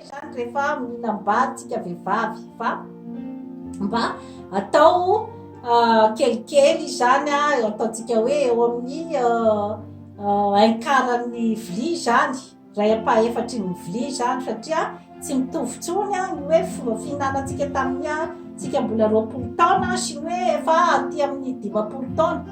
Izany rehefa mihinam-bary tsika vehivavy fa mba atao kelikely izany an, ataontsika hoe eo amin'ny un quart ny vilia izany, iray ampahefatry ny vilia izany satria tsy mitovy intsony ny hoe fomba fihinanantsika tamin'ny tsika mbola roapolo taona sy ny hoe efa aty amin'ny dimampolo taona.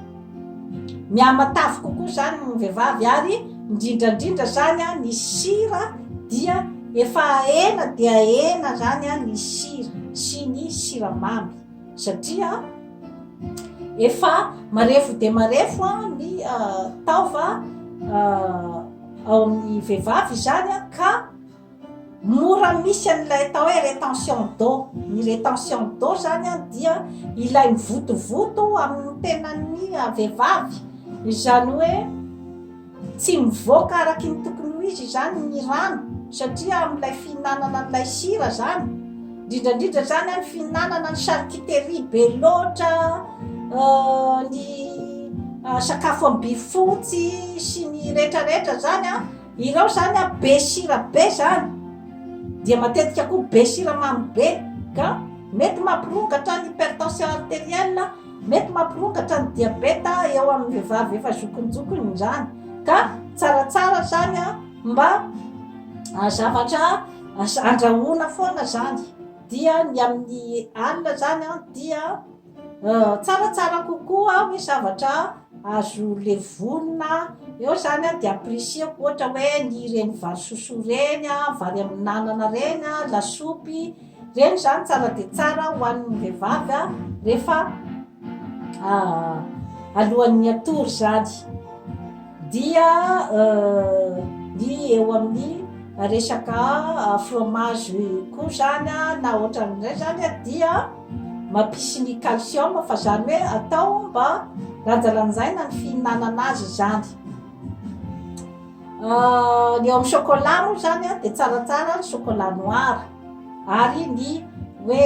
Mihamatavy kokoa izany ny vehivavy ary indrindra indrindra izany an ny sira dia efa ena dia ena izany an ny sira sy ny siramamy satria efa marefo dia marefo an ny taova ao amin'ny vehivavy izany an ka Mora misy an'ilay atao hoe retention d'eau. Ny retention d'eau zany an dia ilay mivotovoto amin'ny tenan'ny vehivavy. Izany hoe tsy mivoaka araky ny tokony ho izy izany ny rano satria amin'ilay fihinanana an'ilay sira zany, indrindra indrindra zany an ny fihinanana ny charcuterie be loatra, ny sakafo am-bifotsy sy ny retraretra zany an, Ireo zany a be sira be zany dia matetika koa be siramamy be ka mety mampirongatra ny hypertension arterielle, mety mampirongatra ny diabeta eo amin'ny vehivavy efa zokinjokiny izany ka tsaratsara zany a mba zavatra andrahoana foana zany dia ny amin'ny alina zany a dia Tsara tsara kokoa hoy zavatra azo levonina eo zany a de apprécier-ko ohatra hoe ny ireny vary sosoa reny a, vary amin'anana reny a, lasopy, reny zany tsara de tsara hohanin'ny vehivavy a rehefa alohan'ny hatory zany. dia ny eo amin'ny resaka fromage koa zany na ohatran'izay zany dia mampisy ny calcium fa zany hoe atao mba lanjalanjaina ny fihinanana azy izany ny eo amin'ny chocolat moa zany dia tsaratsara ny chocolat noir ary ny hoe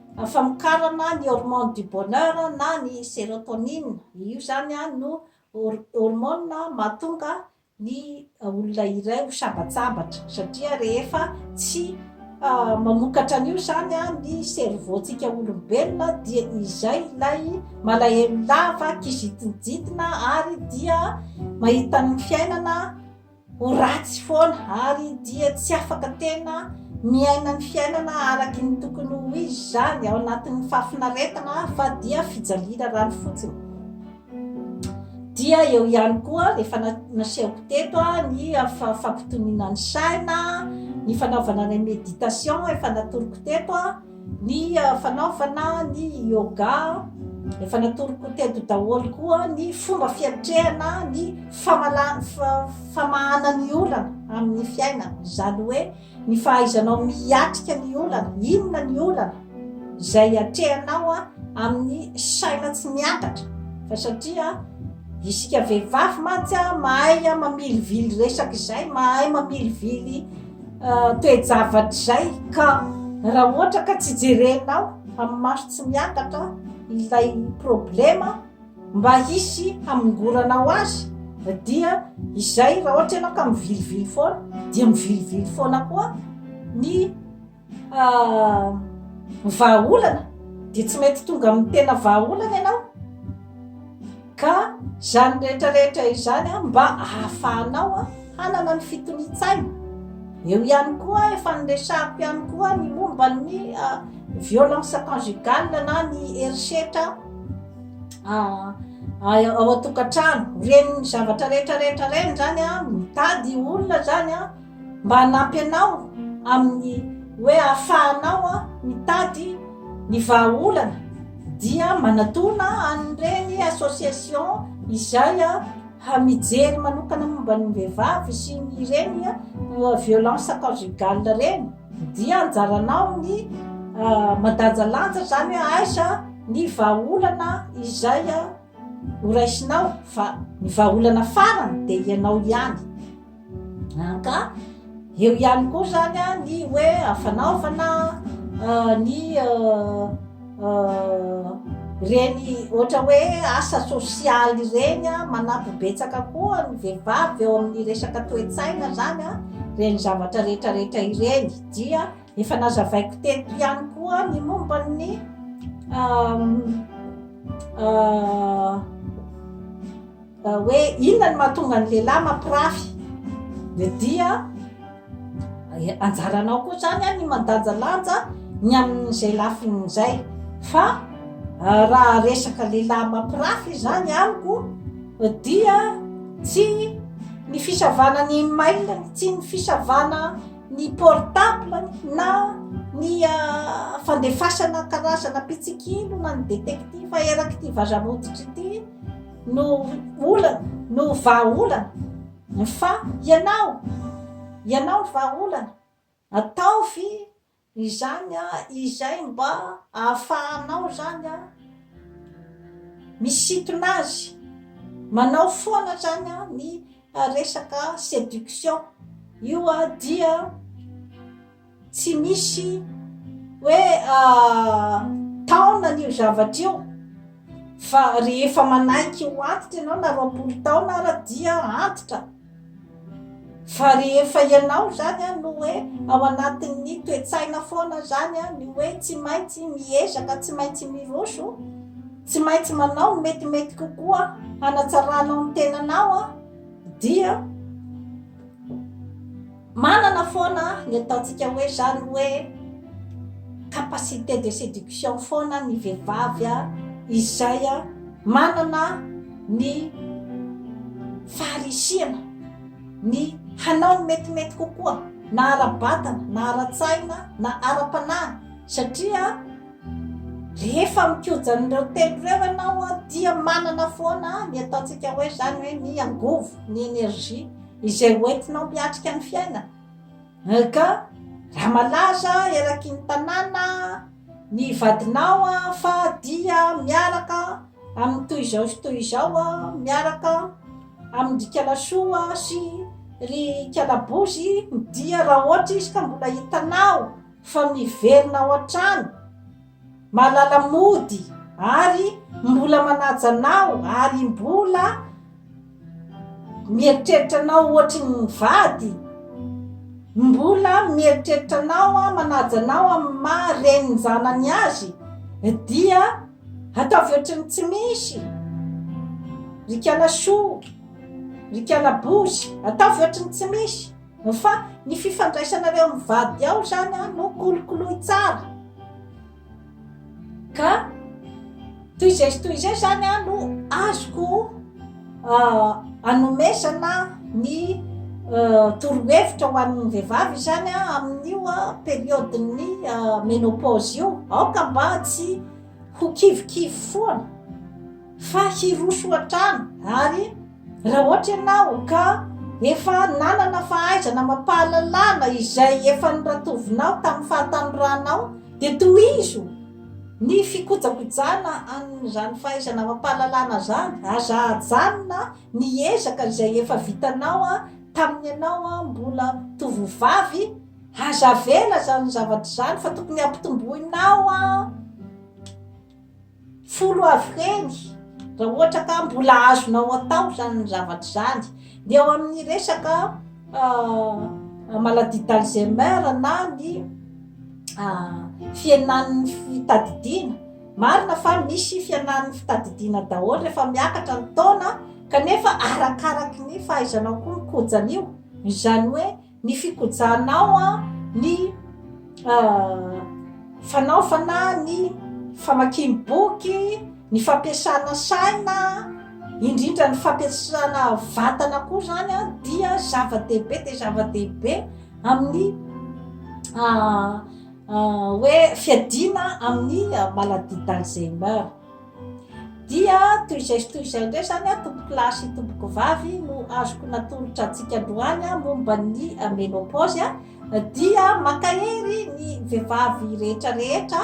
Ny famokarana ny hormone du bonheur na ny serotonine, io izany no hormone mahatonga ny olona iray ho sambatsambatra satria rehefa tsy mamokatra an'io izany ny cerveau-tsika olombelona dia izay ilay malahelo lava kizintinjitina ary dia mahita ny fiainana Ho ratsy foana ary dia tsy afaka tena miaina ny fiainana araky ny tokony ho izy izany ao anatin'ny fahafinaretana fa dia fijaliana rano fotsiny. Dia eo ihany koa efa nasehoko teto ny fampitoniana ny saina, ny fanaovana ny meditation efa natoroko teto. Ny fanaovana ny yoga, efa natoroko teto daholo koa ny fomba fiatrehana ny famala- fa- famahana ny olana amin'ny fiainana. Izany hoe ny fahaizanao miatrika ny olana, inona ny olana izay atrehanao a, amin'ny saina tsy miangatra. Fa satria isika vehivavy mantsy a, mahay a mamilivily resaka izay, mahay mamilivily. toe-javatra izay ka raha ohatra ka tsy jerenao amin'ny maso tsy miakatra ilay problema mba hisy hamongoranao azy dia izay raha ohatra ianao ka mivilivily foana dia mivilivily foana koa ny Ah, ny vahaolana dia tsy mety tonga amin'ny tena vahaolana ianao. Ka izany rehetrarehetra izany ah, mba ahafahanao ah, hanana ny fitonian-tsaina. Eo ihany koa, efa niresahako ihany koa ny momba ny ah, violence conjugale na ny herisetra ah, ao an-tokantrano. Ren'ny zavatra rehetrarehetra reny izany an, mitady olona izany an. Mba hanampy anao amin'ny hoe ahafahanao mitady ny vahaolana dia manatona an'ireny association izay mijery manokana momba ny vehivavy sy ny ireny violence conjugale ireny dia anjaranao ny mandanjalanja izany hoe aiza ny vahaolana izay horaisinao fa ny vahaolana farany dia ianao ihany an ka eo ihany koa zany a ny hoe fanaovana ny reny ohatra hoe asa sosialy ireny a manampy betsaka koa ny vehivavy eo amin'ny resaka toe-tsaina zany a reny zavatra rehetrarehetra ireny dia Efa nazavaiko teto ihany koa ny momba ny hoe inona ny mahatonga ny lehilahy mampirafy dia dia anjaranao koa izany a ny mandanjalanja ny amin'izay lafiny izay fa raha resaka lehilahy mampirafy izany amiko dia tsy ny fisavana ny email tsy ny fisavana ny portable na ny fandefasana karazana mpitsikilo na ny détective eraky ity vazamoditra ity no olana no vahaolana fa ianao ianao ny vahaolana ataovy izany a izay mba ahafahanao zany a misintona azy manao foana zany a ny fa resaka seduction io a dia tsy misy hoe taona an'io zavatra io fa rehefa manaiky ho antitra ianao na roapolo taona ara dia antitra fa rehefa ianao zany a no hoe ao anatin'ny toe-tsaina foana zany a ny hoe tsy maintsy miezaka tsy maintsy miroso Tsy maintsy manao ny metimety kokoa hanatsaranao ny tenanao dia manana foana ny ataontsika hoe zany hoe capacité de séduction foana ny vehivavy izay manana ny faharisihana ny hanao ny metimety kokoa na ara-batana na ara-tsaina na ara-panahy satria Rehefa mikoja an'ireo telo ireo ianao dia manana foana ny ataontsika hoe izany hoe ny angovo, ny énergie, izay ho entinao miatrika ny fiainana. Ka raha malaza eraky ny tanàna ny vadinao fa dia miaraka amin'ny toy izao sy toy izao, miaraka amin-dry Kalasoa sy ry Kalabozy dia raha ohatra izy ka mbola hitanao, fa miverina ao an-trano, mahalala mody ary mbola manaja anao ary mbola mieritreritra anao ohatry ny vady, mbola mieritreritra anao, manaja anao amin'ny maha renin'ny zanany azy, dia ataovy ohatry ny tsy misy, ry kala chou, ry kala bouche, ataovy ohatry ny tsy misy. Fa ny fifandraisanareo amin'ny vady ao izany no kolokoloy tsara. Ka toy izay sy toy izay izany no azoko anomezana ny torohevitra ho an'ny vehivavy izany amin'io periodin'ny menopause io. Aoka mba tsy ho kivikivy foana fa hiroso hatrany ary Raha ohatra ianao ka efa nanana fahaizana amam-pahalalana izay efa noratovinao tamin'ny fahatanoranao, dia tohizo ny fikojakojana an'izany fahaizana amam-pahalalana izany. Aza ajanona ny ezaka izay efa vitanao tamin'ny ianao mbola tovovavy. Aza avela izany zavatra izany fa tokony hampitomboinao. folo avy ireny, raha ohatra ka mbola azonao atao izany ny zavatra izany, dia ao amin'ny resaka maladie d'Alzheimer na ny fihenan'ny fitadidiana, marina fa misy fihenan'ny fitadidiana daholo rehefa miakatra ny taona kanefa arakaraky ny fahaizanao koa ny kojan'io, izany hoe. Ny fikojanao an, ny fanaovana ny famakim boky, ny fampiasana saina, indrindra ny fampiasana vatana koa zany an dia zava dehibe dia zava dehibe amin'ny hoe fiadiana amin'ny maladie d'Alzheimer. Dia toy izay sy toy izay indray izany an, tompoko lahy sy tompoko vavy, no azoko natolotra antsika androany momba ny menopause an, dia mankahery ny vehivavy rehetra rehetra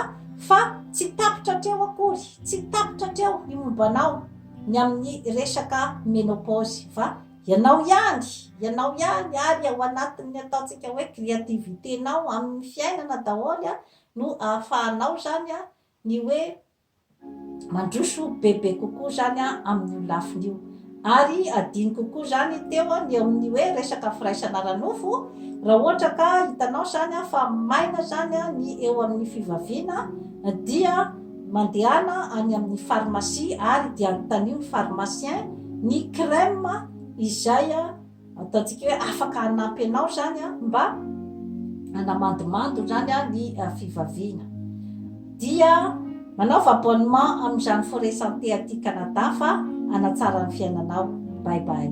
fa tsy tapitra hatreo akory, tsy tapitra hatreo ny momba anao ny amin'ny resaka menopause fa ianao ihany, ianao ihany ary ao anatin'ny ataontsika hoe créativité-nao amin'ny fiainana daholo an no ahafahanao izany an ny hoe Mandroso bebe kokoa izany amin'io lafiny io. Ary adino kokoa izany teo ny eo amin'ny hoe resaka firaisana ara-nofo, raha ohatra ka hitanao izany fa maina izany ny eo amin'ny fivaviana dia mandehana any amin'ny pharmacie ary dia anontanio ny pharmacien ny crème izay Ataontsika hoe afaka hanampy anao izany mba hanamandimando izany ny fivaviana. Dia manaova abonnement amin'izany Forêt Santé aty Canada fa hanatsara ny fiainanao. Bye bye.